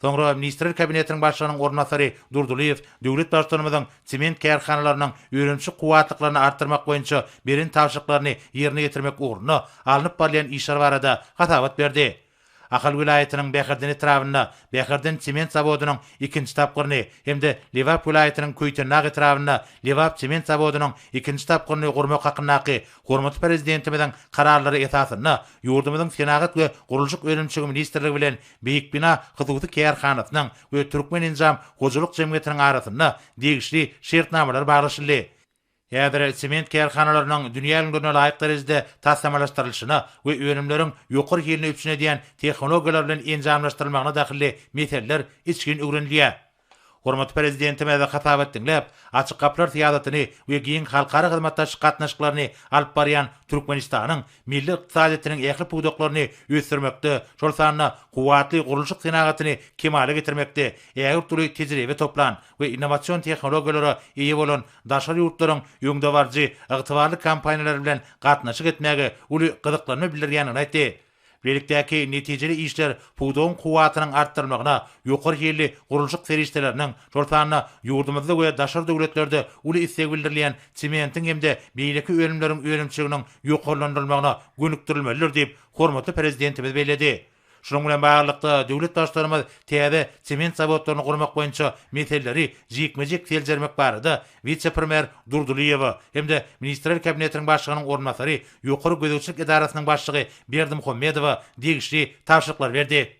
Soňra Ministrler Kabinetiniň Başlygynyň orunbasary Durdylyýew döwlet Baştutanymyzyň sement kärhanalarynyň önümçi kuwwatlyklaryny artdyrmak boýunça beren tabşyryklaryny ýerine ýetirmek ugrunda alnyp barylýan işler barada hasabat berdi. Ahal welaýatynyň Bäherden etrabynda Bäherden sement zawodynyň ikinji tapgyryny hem-de Lebap welaýatynyň Köýtendag etrabynda Lebap sement zawodynyň ikinji tapgyryny gurmak hakyndaky hormatly Prezidentimiziň Kararlary esasynda ýurdumyzyň Senagat we gurluşyk önümçigi ministrligi bilen Beýik bina hususy kärhanasynyň we Türkmenenjam hojalyk jemgyýetiniň arasynda degişli şertnamalar baglaşyldy. Häzir sement kärhanalarynyň dünýä ülňülerine laýyk derejede taslamalaşdyrylyşyna we önümleriň ýokary hilini üpjün edýän tehnologiýalar bilen enjamlaşdyrylmagyna dahylly meseleler içgin öwrenilýär. Hormatly Prezidentimize hasabat diňläp, Açyk gapylar syýasatyny we giň halkara hyzmatdaşlyk gatnaşyklaryny alyp barýan Türkmenistanyň milli ykdysadyýetiniň ähli pudaklaryny ösdürmekde, şol sanda kuwwatly gurluşyk senagatyny kemala getirmekde ägirt uly tejribe toplan we innowasion tehnologiýalara eýe bolan daşary ýurtlaryň öňdebaryjy ygtybarly kompaniýalary bilen gatnaşyk etmäge uly gyzyklanma bildirýändigini aýtdy. Bilelikdäki netijeli işler pudagyň kuwwatynyň artdyrylmagyna, ýokary hilli gurluşyk serişdeleriniň, şol sanda ýurdumyzda we daşary döwletlerde uly isleg bildirilýän sementiň hem-de beýleki önümleriň önümçiliginiň ýokarlandyrylmagyna gönükdirilmelidir diýip, hormatly Prezidentimiz belledi. Şunuň bilen baglylykda, döwlet Baştutanymyz täze sement zawodlaryny gurmak boýunça meseleleri jikme-jik seljermek barada wise-premýer Durdylyýewa hem-de Ministrler Kabinetiniň Başlygynyň orunbasary, Ýokary gözegçilik edarasynyň başlygy Berdimuhamedowa degişli tabşyryklary berdi.